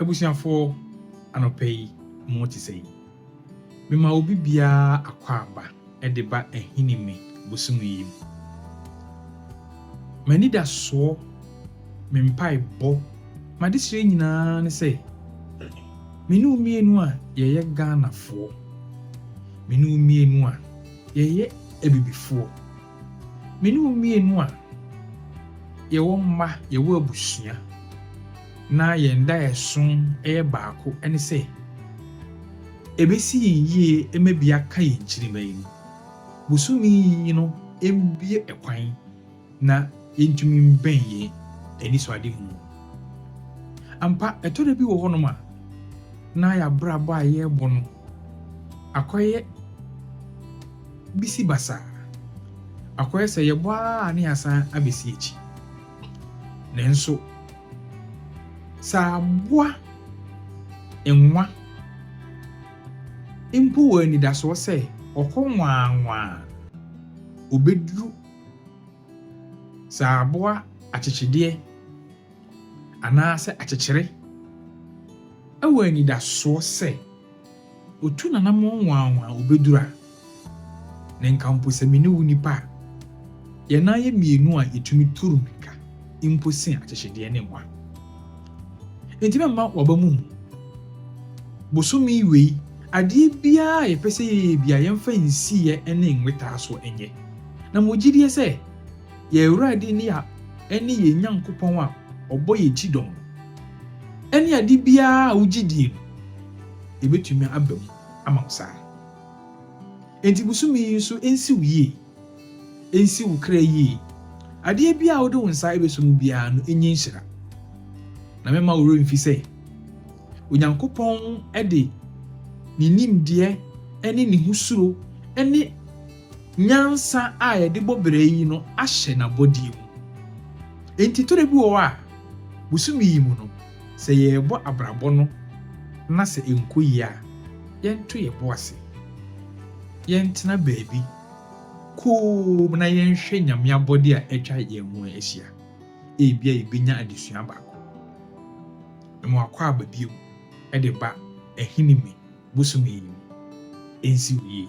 Abusuafoɔ, anɔpa yi mo te sɛn? Mema obi biara akwaaba de ba Ahinime bosome yi mu. M'anidasoɔ, me mpaebɔ, m'adesrɛ nyinaa ne sɛ, me ne wo mmienu a yɛyɛ Ghanafoɔ, me ne wo mmienu a yɛyɛ Abibifoɔ, Me ne wo mmienu a yɛwɔ mma, yɛwɔ abusua, na yɛn daeɛso yɛ baako ne sɛ, ɛbɛsi yɛn yie ma bi aka yɛn nkyirimma yi no, bosome yi no mmue ɛkwan na yɛntumi mbɛn yɛn anisoadehunu. Ampa, ɛtɔ da bi wɔ hɔnom a, na yɛn abrabɔ a yɛrebɔ no akɔyɛ. bi si basaa. Akɔyɛ sɛ yɛbɔ ara na yɛasan abɛsi akyi. Nanso, sɛ aboa nwa mpo wɔ anidasoɔ sɛ ɔkɔ nwaanwaa a, ɔbɛduru saa aboa akyekyedeɛ anaasɛ akyekyere wɔ anidasoɔ sɛ, Otu n'anammɔn nwanwa a obedur a, na nka mpo sɛ me ne wo nipa a, yɛn nan yɛ mmienu a yetumi tur mmirika mpo sen akyekyedeɛ ne mmoa. Enti mɛma w'aba mu hu. Bosome wei, adeɛ biara a yɛpɛ sɛ yɛyɛ biara, yɛmfa nsiyɛ ne nwetaasoɔ nyɛ, na mewɔ gyidie sɛ yɛn Awurade ne yɛn ne yɛn Nyankopɔn a ɔbɔ yɛn kyidɔm no ne ade biara a wogye die no, ebetumi aba mu ama wo saa. Enti bosome yi nso nsi wo yie, nsi wo kra yie. Adeɛ biara a wode wo nsa bɛsɔ mu biara no nyi nhyira. Na mɛma wo werɛ mfi sɛ Onyankopɔn de ne nimdeɛ ne ne ho suro ne nyansa a yɛde bɔ bra yi no ahyɛ n'abɔdeɛ mu. Enti tɔda bi wɔ hɔ a, bosome yi mu no, Sɛ yɛrebɔ abrabɔ no na sɛ ɛnkɔ yie a, yɛnto yɛn bo ase. Yɛntena baabi komm na yɛnhwɛ Nyame abɔdeɛ a atwa yɛn ho ahyia. Ebia yɛbɛnya adesua baako. Mma wakɔ aba bio de ba Ahinime bosome yi mu ɛnsi wo yie.